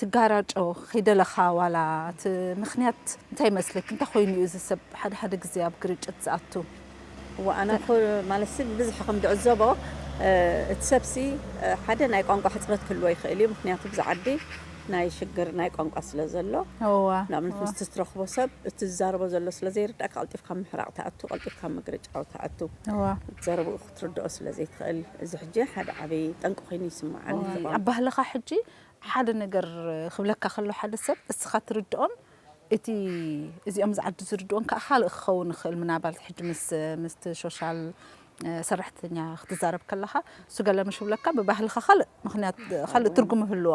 ትጋራጮ ከይደለኻ ዋላ እቲ ምኽንያት እንታይ ይመስልክ እንታይ ኮይኑ እዩ እዚ ሰብ ሓደ ሓደ ግዜ ኣብ ግርጭት ዝኣቱ እወ ኣነ እኮ ማለትሲ ብብዝሒ ከም ዝዕዘቦ እቲ ሰብሲ ሓደ ናይ ቋንቋ ሕጽረት ክህልዎ ይኽእል እዩ ምኽንያቱ ኣብዚ ዓዲ ናይ ሽግር ናይ ቋንቋ ስለ ዘሎ እወ ንኣብነት እወ ምስቲ ትረኽቦ ሰብ እቲ ዝዛረቦ ዘሎ ስለ ዘይርድኣካ ቀልጢፍካ ኣብ ምሕራቕ ትኣቱ ቀልጢፍካ ኣብ ምግርጫው ትኣቱ እወ እቲ ዘረብኡ ክትርድኦ ስለ ዘይትኽእል እዚ ሕጂ ሓደ ዓቢ ጠንቂ ኮይኑ ይስምዓኒ። እዚ ቋንቋ። ኣባህልኻ ሕጂ ሓደ ነገር ክብለካ ከሎ ሓደ ሰብ እስኻ ትርድኦን እቲ እዚኦም ዝዓዱ ዝርድኦን ከኣ ካልእ ክኸውን ይኽእል ምናባት ሕጂ ምስ ምስቲ ሾሻል ሰራሕተኛ ክትዛረብ ከለኻ እሱ ገለ ምሽ ክብለካ ብባህልኻ ካልእ ምኽንያት ካልእ ትርጉም ይህልዎ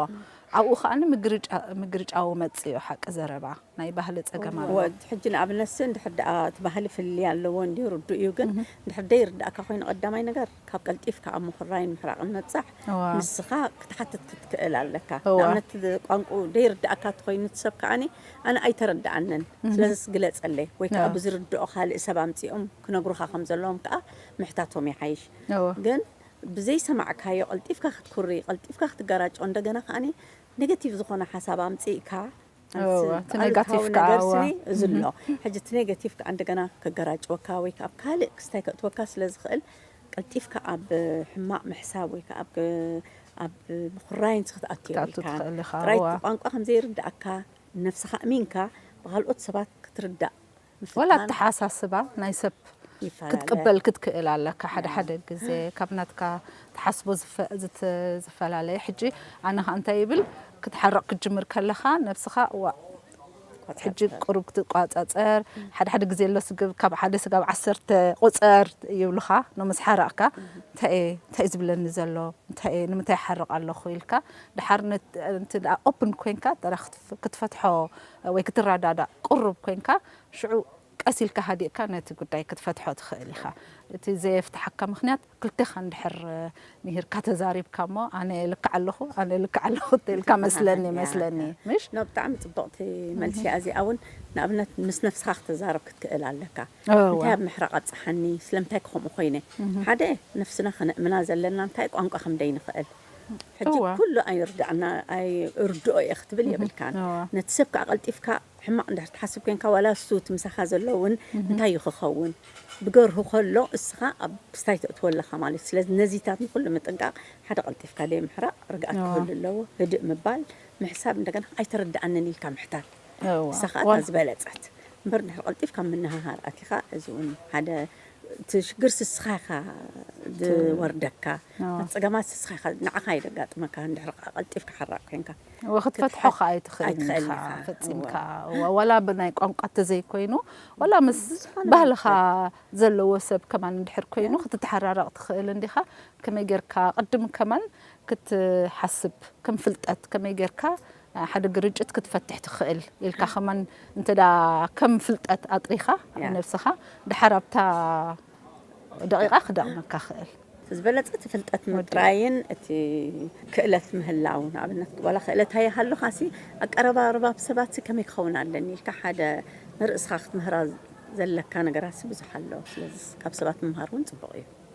ኣብኡ ከኣ ምግርጫ ምግርጫው መጽእ እዩ ሓቂ ዘረባ። ናይ ባህሊ ጸገም ኣሎ። እወ ሕጂ ንኣብነትሲ እንድሕር ደኣ እቲ ባህሊ ፍልልይ ኣለዎ እንድዩ ርዱእ እዩ ግን እንድሕር ደይርድኣካ ኮይኑ ቀዳማይ ነገር ካብ ቀልጢፍካ ኣብ ምኹራይን ምሕራቕን ምብጻሕ እወ። ንስኻ ክትሓትት ክትክእል ኣለካ እወ። ንኣብነት ቋንቁኡ ደይርድኣካ እንተኾይኑ እቲ ሰብ ከኣ ኣነ ኣይተረድኣንን ስለዝስ ግለጸለይ ወይ ከኣ እወ። ብዝርድኦ ካልእ ሰብ ኣምጺኦም ክነግሩኻ ከም ዘለዎም ከኣ ምሕታቶም ይሓይሽ እወ። ግን ብዘይሰማዕካዮ ቀልጢፍካ ክትኩርይ ቀልጢፍካ ክትገራጮ እንደገና ከኣ ነገቲቭ ዝኾነ ሓሳብ ኣምጺእካ ኣሉታዊ ነገር ስኒ እዚ ኣሎ ሕጂ እቲ ኔጋቲቭ ከዓ እንደገና ከገራጭወካ ወይ ከዓ ኣብ ካልእ ክስታይ ከእትወካ ስለዝኽእል ቀልጢፍካ ኣብ ሕማቅ ምሕሳብ ወይ ከዓ ኣብ ምኹራይንት ክትኣቱ የብልካን ጥራይ እቲ ቋንቋ ከምዘይርደኣካ ንነብስኻ ኣእሚንካ ብኻልኦት ሰባት ክትርዳእ ወላ ኣተሓሳስባ ናይ ሰብ ክትቅበል ክትክእል ኣለካ ሓደ ሓደ ግዜ ካብ ናትካ ትሓስቦ ዝፈላለየ ሕጂ ኣነ ከኣ እንታይ ይብል ክትሓርቅ ክትጅምር ከለካ ነብስካ ዋእ ሕጂ ቅሩብ ክትቋጻጸር ሓደ ሓደ ግዜ ኣሎ ስግብ ካብ ሓደ ስጋብ ዓሰርተ ቁጸር ይብሉካ ን ምስ ሓረቅካ እንታይ እየ እንታይ እዩ ዝብለኒ ዘሎ እንታይ እየ ንምንታይ ይሓርቅ ኣለኩ ኢልካ ድሓር ኦፕን ኮንካ ጥራሕ ክትፈትሖ ወይ ክትረዳዳእ ቅሩብ ኮይንካ ሽዑ ቀስ ኢልካ ሃዲእካ ነቲ ጉዳይ ክትፈትሖ ትኽእል ኢኻ። እቲ ዘየፍትሓካ ምኽንያት ክልቴኻ እንድሕር ምሂርካ ተዛሪብካ እሞ ኣነ ልክዕ ኣለኹ ኣነ ልክዕ ኣለኹ እንተኢልካ መስለኒ መስለኒ ምሽ? ን ብጣዕሚ ጽብቕቲ መልሲ እያ እዚኣ ውን ንኣብነት ምስ ነብስኻ ክትዛረብ ክትክእል ኣለካ እንታይ ኣብ ምሕራቕ ኣብጽሓኒ ስለምንታይከ ከምኡ ኮይነ ሓደ ነፍስና ከነእምና ዘለና እንታይ ቋንቋ ከምደይንኽእል ሕጂ ኩሉ ኣይርድኣና ኣይ እርድኦ እየ ክትብል የብልካን ነቲ ሰብ ከኣ ቀልጢፍካ ሕማቅ እንድሕር ትሓስብ ኮንካ ዋላ እሱ እቲ ምሳካ ዘሎ ውን እንታይ እዩ ክከውን ብገርሁ ከሎ እስካ ኣብ ስታይ ተእትዎ ኣለካ ማለት እዩ ስለዚ ነዚታት ንኩሉ ምጥንቃቅ ሓደ ቀልጢፍካ ደይምሕራቅ ርግኣት ክህሉ ኣለዎ ህድእ ምባል ምሕሳብ እንደገና ኣይተረድኣንን ኢልካ ምሕታት እሳ ከኣ እታ ዝበለጸት እምበር እንድሕር ቀልጢፍካ ምንህሃር ኣቲካ እዚ ውን ሓደ እቲ ሽግር ስስኻ ኢኻ ዝወርደካ እቲ ጸገማት ስስኻ ኢኻ ንዓኻ እዩ ዘጋጥመካ እንድሕር ከኣ ቀልጢፍካ ሓራቕ ኮይንካ። እወ ክትፈትሖ ከኣ ኣይትኽእልን ኢኻ ፈጺምካ እወ ዋላ ብናይ ቋንቋ እንተዘይኮይኑ ዋላ ምስ ባህልኻ ዘለዎ ሰብ ከማን እንድሕር ኮይኑ ክትተሓራረቕ ትኽእል እንዲኻ ከመይ ጌርካ ቅድም ከማን ክትሓስብ ከም ፍልጠት ከመይ ጌርካ ሓደ ግርጭት ክትፈትሕ ትኽእል ኢልካ ከማን እንተ ከም ፍልጠት ኣጥሪኻ ነብስኻ ድሓር ኣብታ ደቂቓ ክደቕመካ ክእል። እቲ ዝበለጸ እቲ ፍልጠት ምጥራይን እቲ ክእለት ምህላው ንኣብነት ዋላ ክእለት ኣይሃሉኻሲ ኣቀረባርባ ኣብ ሰባትሲ ከመይ ክኸውን ኣለኒ ኢልካ ሓደ ንርእስኻ ክትምህራ ዘለካ ነገራትሲ ብዙሕ ኣሎ። ስለዚ ካብ ሰባት ምምሃር እውን ጽቡቕ እዩ።